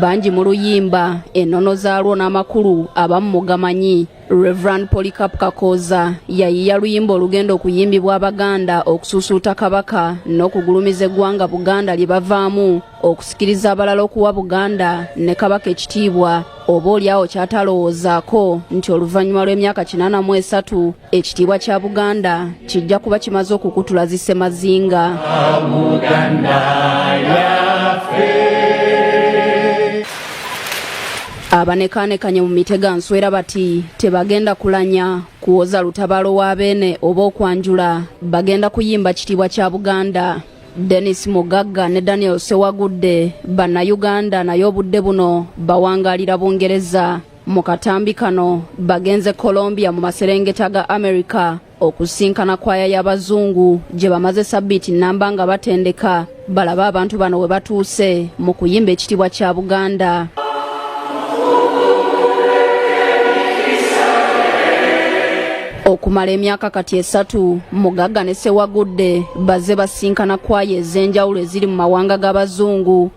bangi mu luyimba ennono zaalwo n'amakulu abamu mugamanyi reverand polycap kakooza yayiya luyimba olugenda okuyimbibwa abaganda okusuusuuta kabaka n'okugulumiza eggwanga buganda lye bavaamu okusikiriza abalala okuwa buganda ne kabaka ekitiibwa oba olyawo kyatalowoozaako nti oluvannyuma lw'emyaka kinaana mu esatu ekitiibwa kya buganda kijja kuba kimaze okukutula zisemazinga abanekaanekanye mu mitega nswera bati tebagenda kulanya kuwoza lutabalo wa beene oba okwanjula bagenda kuyimba kitiibwa kya buganda Dennis Mugagga ne Daniel Sewagudde bannayuganda naye obudde buno bawangalira Bungereza Mu katambi kano bagenze Colombia mu maserengeta ga America okusinkana kwaya y'abazungu gye bamaze sabbiiti nnamba nga batendeka balabe abantu bano we batuuse mu kuyimba ekitiibwa kya Buganda. okumala emyaka kati esatu mugagga ne sewagudde bazze basinkana kwaya ez'enjawulo eziri mu mawanga g'abazungu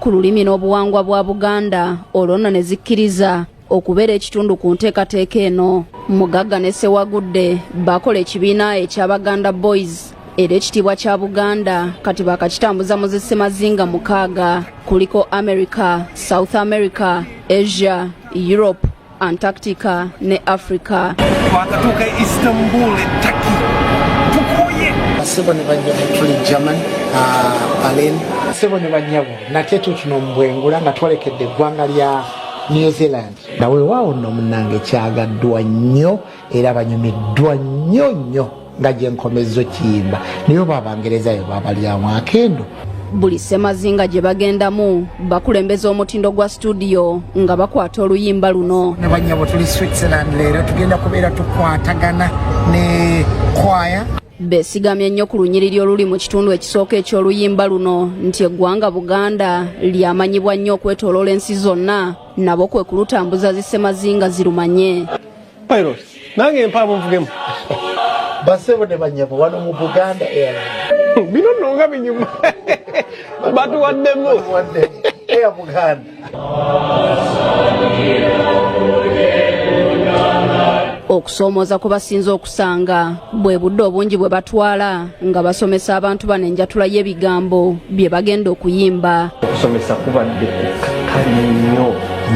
ku lulimi n'obuwangwa bwa buganda olwo nno ne zikkiriza okubeera ekitundu ku nteekateeka eno mugagga ne sewagudde bakola ekibiina ekya baganda boys era ekitiibwa kya buganda kati bakakitambuza mu zisemazinga mukaaga kuliko america south america asia europe Antarctica ne Africa. Twakatuuka e Istanbul e Turkey. Tukuye. Sebo ne banyabo tuli German, uh, Berlin. Sebo ne banyabo nate tutuno mbwengula nga twalekedde eggwanga lya New Zealand. Nawe waawo nno munnange kyagaddwa nnyo. era banyumiddwa nnyo nnyo nga gye nkomezza okiyimba naye oba abangerezayo babalyamu akendo buli ssemazinga gye bagendamu bakulembeza omutindo gwa situdiyo nga bakwata oluyimba luno ne banyabo tuli switzerland leero tugenda kubeera tukwatagana ne kwaya besigamye nnyo ku lunyiriri oluli mu kitundu ekisooka eky'oluyimba luno nti eggwanga buganda lyamanyibwa nnyo okwetoloola ensi zonna nabo kwe kulutambuza zisemazinga zirumanye Pilot, nange mpaamu nvugemu. Basebo ne banyabo wano mu Buganda Airlines. Bino nno nga binyuma. Batuwaddemu. Batuwaddemu. Air Buganda. Okusoomoza kubasinze okusanga bwe budde obungi bwe batwala. nga basomesa abantu bano enjatula y'ebigambo bye bagenda okuyimba okusomesa kubadde kukakkanya nnyo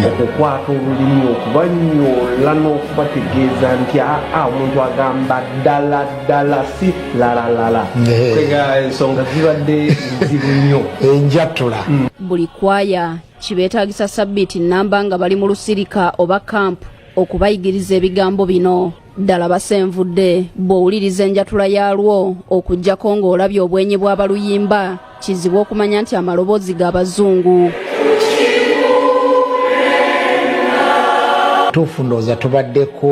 okukwata olulimi okubanyoola n'okubategeeza nti aa omuntu agamba ddala ddala si lalalala ensonga zibadde nzibu nnyo enjatula mm. buli kwaya kibeetaagisa sabbiiti nnamba nga bali mu lusirika oba kampu okubayigiriza ebigambo bino ddala basenvudde bw'owuliriza enjatula yaalwo okuggyako ng'olabye obwenyi bw'abaluyimba kizibu okumanya nti amaloboozi ga bazungu tuufu ndowooza tubaddeko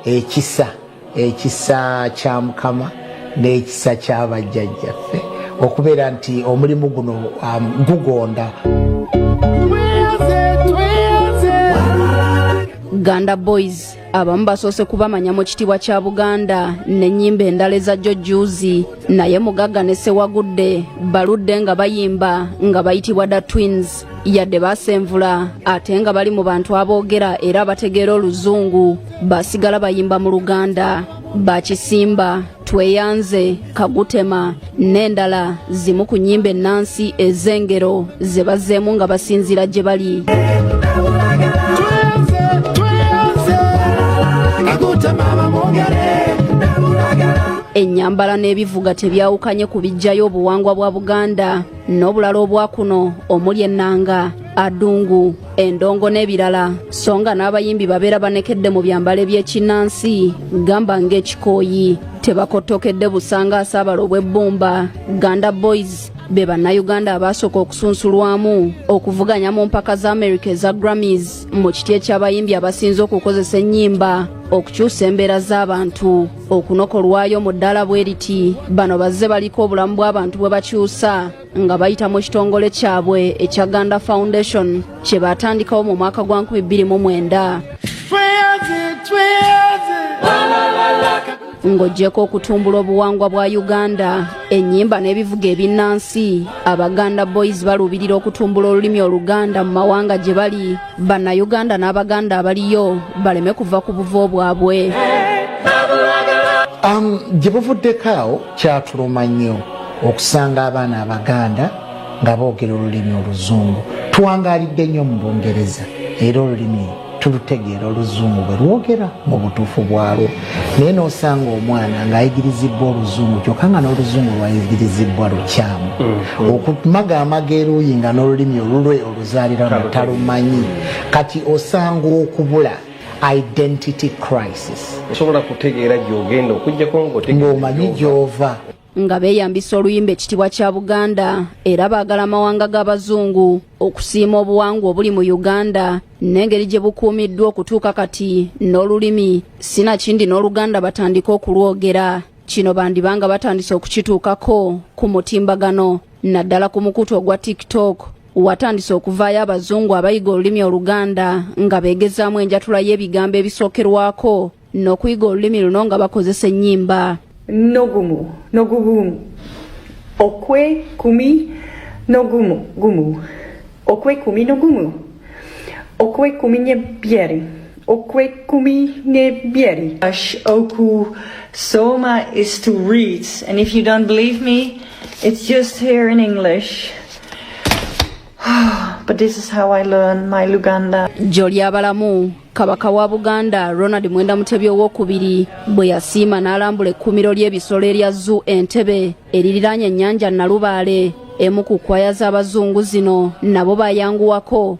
ekisa ekisa kya mukama n'ekisa ky'abajjajjaffe okubeera nti omulimu guno um, gugonda ganda boys abamu basoose kubamanya mu kitiibwa kya buganda n'ennyimba endala eza jjo juuzi naye mugagga ne sewagudde baludde nga bayimba nga bayitibwa da twins yadde baasenvula ate nga bali mu bantu aboogera era abategeera oluzungu basigala bayimba mu luganda bakisimba tweyanze kagutema n'endala zimu ku nnyimba ennansi ez'engero ze bazzeemu nga basinziira gye bali ennyambala n'ebivuga tebyawukanye ku bijjayo obuwangwa bwa buganda n'obulala obwakuno omuli ennanga adungu endongo n'ebirala so nga n'abayimbi babeera banekedde mu byambalo eby'ekinnansi gamba ng'ekikooyi tebakottokedde busanga asaabala obw'ebbumba ganda boys be bannayuganda abaasooka okusunsulwamu okuvuganya mu mpaka za america eza grammys mu kiti eky'abayimbi abasinze okukozesa ennyimba okukyusa embeera z'abantu okunokolwayo mu ddaala bwe riti bano bazze baliko obulamu bw'abantu bwe bakyusa nga bayita mu kitongole kyabwe ekya ganda foundation kye baatandikawo mu mwaka gwa 2029 ng'ogyeko okutumbula obuwangwa bwa uganda ennyimba n'ebivuga ebinnansi abaganda boys baluubirira okutumbula olulimi oluganda mu mawanga gye bali bannayuganda n'abaganda abaliyo baleme kuva ku buvo bwabwe um, gye buvuddeko awo Kyatuluma nnyo okusanga abaana Abaganda nga boogera olulimi Oluzungu. Tuwangaalidde nnyo mu Bungereza era olulimi tulutegeera Oluzungu bwe lwogera mu butuufu bwalwo. Naye n'osanga omwana ng'ayigirizibbwa Oluzungu kyokka nga n'Oluzungu lwayigirizibbwa lukyamu. Mm-hmm. Okumaga amaga eruuyi nga n'olulimi olulwe oluzaalirana talumanyi. Kati osanga okubula. identity crisis osobola kutegeera gyogenda okujjako ng'omanyi gyova nga beeyambisa oluyimba ekitibwa kya buganda era baagala amawanga g'abazungu okusiima obuwangwa obuli mu uganda n'engeri gye bukuumiddwa okutuuka kati n'olulimi sinakindi n'oluganda batandike okulwogera kino bandibanga batandise okukituukako ku mutimbagano naddala ku mukutu ogwa tiktok watandise okuvaayo abazungu abayiga olulimi oluganda nga beegezaamu enjatula y'ebigambo ebisookerwako n'okuyiga olulimi luno nga bakozesa ennyimba nogumu nogugumu okwe kumi nogumu gumu okwe kumi nogumu okwe kumi ne byeri Okwekumi nebyeri. Ash oku soma is to read. And if you don't believe me, it's just here in English. But this is how I learn my Luganda. Jolly Abalamu, Kabaka wa Buganda, Ronald Mwenda Mutebi owokubiri bwe yasiima n'alambula ekkuumiro ly'ebisolo erya Zoo Entebbe eririraanye ennyanja Nalubaale emu ku kkwaaya z'Abazungu zino nabo baayanguwako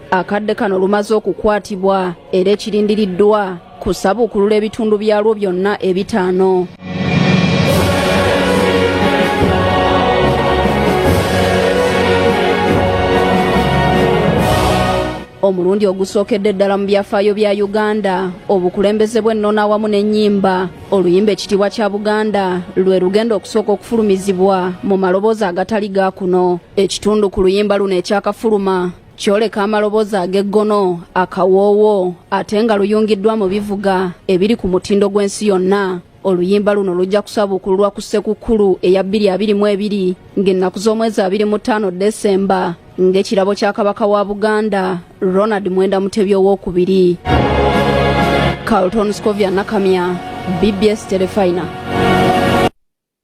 akadde kano lumaze okukwatibwa era ekirindiriddwa kusabuukulula ebitundu byalwo byonna ebitaano omulundi ogusookedde ddala mu byafaayo bya uganda obukulembeze bw'ennono awamu n'ennyimba oluyimba ekitiibwa kya buganda lwe lugenda okusooka okufulumizibwa mu maloboozi agatali ga kuno ekitundu ku luyimba luno ekyakafuluma kyoleka amaloboozi ag'eggono akawoowo ate nga luyungiddwa mu bivuga ebiri ku mutindo gw'ensi yonna oluyimba luno lujja kusabuukululwa ku ssekukkulu eya 222 ng'ennaku z'omwezi 25 desemba ng'ekirabo kya kabaka wa buganda ronald mwenda mutebi ow'okubiri carlton scovia nakamya bbs telefina